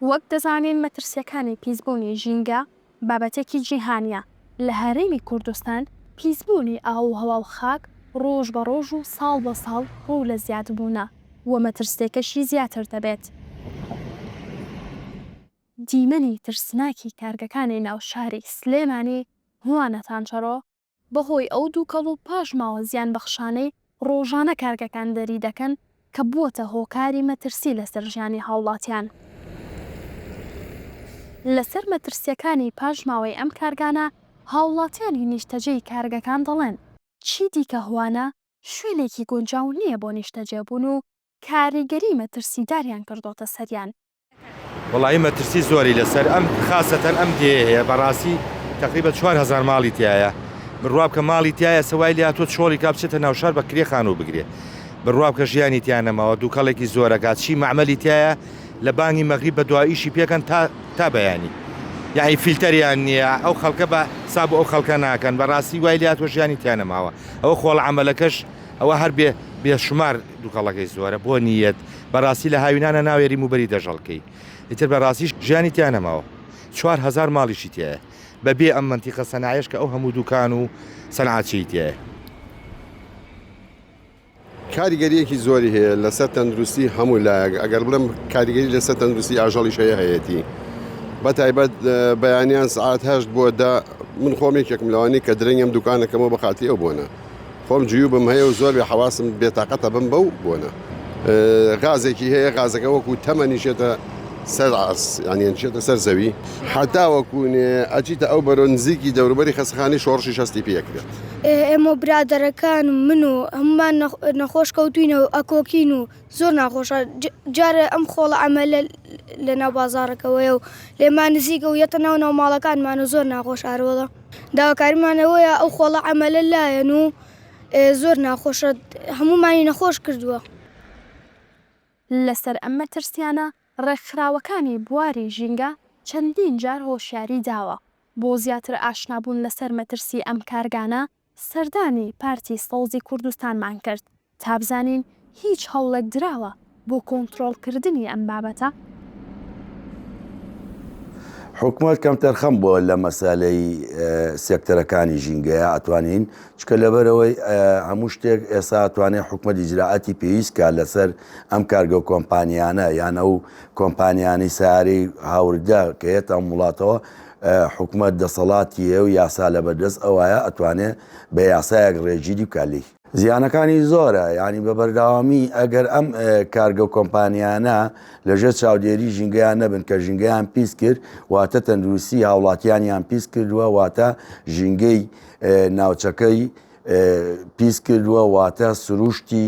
وەک دەزانین مەترسیەکانی پیسبوونی ژینگە بابەتێکی جیهانیە، لە هەرێمی کوردستان پیسبوونی ئاووهەوا و خاک ڕۆژ بە ڕۆژ و ساڵ بە ساڵ ڕوو لە زیادبوونە و مەترسیەکەشی زیاتر دەبێت، دیمەنی ترسناکی کارگەکانی ناو شاری سلێمانی هوانەتانچەڕۆ بەهۆی ئەو دوکەڵ و پاشماوە زیانبەخشانەی ڕۆژانە کارگەکان دەری دەکەن کە بووەتە هۆکاری مەترسی لەسەر ژیانی هاوڵاتیان. لەسەر مەترسییەکانی پاشماوەی ئەم کارگانە هاوڵاتیانی نیشتەجێی کارگەکان دەڵێن، چیدیکە هوانە شوێنێکی گونجاو نییە بۆ نیشتەجێبوون و کاریگەری مەترسیداریان کردۆتە سەریان وەڵایی مەترسی زۆری لەسەر ئەم خاسەتەن ئەم دێیە هەیە بەڕاستی تەقریبە چوار هەزار ماڵی تیایە بڕوا بکە ماڵی تایە سە وای لاتۆ چۆڵی کا بچێتە ناوشار بە کرێ خانوو بگرێ بڕوا بکە ژیانی تیا نەماوە دووکەڵێکی زۆرەکات چی مەعمەلی تایە لە بانگی مەغریب بە دوا ئیشی پێکەن تا تا بەیانی یعنی فیلتەریان نییە ئەو خەڵکە بە ساب ئەو خەڵکە ناکەن بەڕاستی وای لاتۆ ژیانی تیا نەماوە ئەو خۆڵ عملەکەش ئەوە هەر بێ بێ شومار دوکەڵەکەی زۆرە بۆ نیت بەراستی لە هاوینانە ناوێری موبەری دەژەڵکەی ئیتر بەراستیش ژیانی تیا نەماوە چوار هەزار ماڵیشی تیایە بە بێ ئەم مەنتیقە سەنایەش کە ئەو هەموو دوکان و سەنعاتچەی تیایە. کاریگەریەکی زۆری هەیە لەسەر تەندروستی هەموو لایەک ئەگەر بڵێم کاریگەری لەسەر تەندروستی ئاژەڵیش هەیە هەیەتی بەتایبەت بەیانیان سعات هەشت بۆ دە من خۆم یەکێکم لەوانی کە درەنگم دوکانەکەمەوە بە خاتری ئەو بۆنە. خۆم جیوبم هەیە و زۆر بێ حەواسم بێ تاقەتە بم بەو بۆنە غازێکی هەیە غازەکە وەکو تەمە نیشێتە سەر ئاس یانیان چێتە سەر زەوی حتاوەکوونێ ئەچیتە ئەو بەرۆ نزیکی دەوروبەری خەسخانی شۆڕشی شەستی پێکرێت ئێمە برادەرەکان من و هەمومان نەخۆش کەوتوینە و ئەکۆکین و زۆر ناخۆشە جارە ئەم خۆڵە ئەمە لە ناو بازارەکەەوەی و لێمان نزیکە و یەتە ناو ناو ماڵەکانمان و زۆر ناخۆش ئارۆڵە داواکاریمان ئەوەیە ئەو خۆڵە عەمەلە لایەن و زۆر ناخۆشە هەموومانی نەخۆش کردووە. لەسەر ئەم مەترسیانە ڕێکخراوەکانی بواری ژینگە چەندین جار هۆشیاری داوە. بۆ زیاتر ئاشنابوون لەسەر مەترسی ئەم کارگانە سەردانی پارتی سەوزی کوردستانمان کرد. تابزانین هیچ هەوڵێک دراوە بۆ کۆنترۆڵ کردنی ئەم بابەتە؟ حکومەت کەمتەرخەم بووە لە مەسەلەی سێکتەرەکانی ژینگەیە ئەتوانین چکە لەبەرەوەی هەموو شتێک ئێسا توانێت حکومەت ئیجراعاتی پێویستکە لەسەر ئەم کارگە کۆمپانیانە یانە و کۆمپانیانی ساری هاوردە کە هێت ئەم وڵاتەوە حکومەت دەسەڵاتی هەیە و یاسا لە بەردەست ئەوایە ئەتوانێت بە یاسایەک ڕێگیری بکە لێی زیانەکانی زۆرە یانی بە بەرداوامی ئەگەر ئەم کارگە و کۆمپانیانە لە ژێر چاودێری ژینگەیان نەبن کە ژینگەیان پیس کرد واتە تەندروستی هاوڵاتیانیان پیس کردووە واتە ژینگەی ناوچەکەی پیس کردووە واتە سروشتی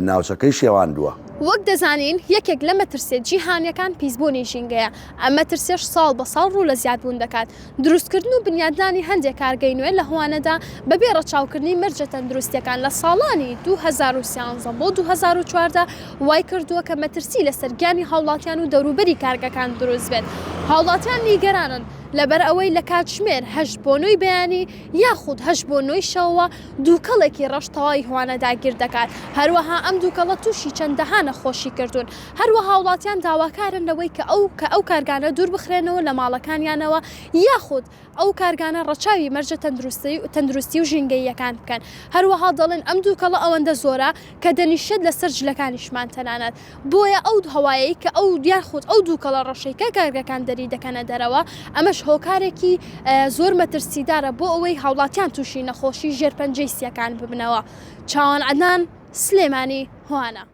ناوچەکەی شێواندووە. وەک دەزانین یەکێک لە مەترسیە جیهانیەکان پیسبوونی ژینگەیە، ئەم مەترسیەش ساڵ بە ساڵ ڕوو لە زیادبوون دەکات، دروستکردن و بنیادنانی هەندێک کارگەی نوێ لە هوانەدا بەبێ ڕەچاوکردنی مەرجە تەندروستییەکان لە ساڵانی دوو هەزار و سیانزە بۆ دوو هەزار و چواردە وایکردووە کە مەترسی لەسەر گیانی هاوڵاتیان و دەوروبەری کارگەکان دروست بێت هاوڵاتیان نیگەرانن لەبەرئەوەی لە کاتژمێر هەشت بۆ نۆی بەیانی یاخود هەشت بۆ نۆی شەوەوە دووکەڵێکی ڕەش تەواوی هوانە داگیردەکات هەروەها ئەم دووکەڵە تووشی چەندەها نەخۆشی کردوون هەروەها هاوڵاتیان داواکارن لەوەی کە ئەو کە ئەو کارگانە دوور بخرێنەوە لە ماڵەکانیانەوە یاخود ئەو کارگانە ڕەچاوی مەرجە تەندروستی و ژینگەییەکان بکەن هەروەها دەڵێن ئەم دووکەڵە ئەوەندە زۆرە کە دەنیشێت لەسەر جلەکانیشمان تەنانەت بۆیە ئەو هەوایەی کە ئەو یاخود ئەو دووکەڵە ڕەشەی کە کارگەکان دەری دەکەنە دەرەوە ئەمەش هۆکارێکی زۆر مەترسیدارە بۆ ئەوەی هاوڵاتیان تووشی نەخۆشی ژێر پەنجەی سییەکان ببنەوە چاوان عەدنان سلێمانی هۆانا.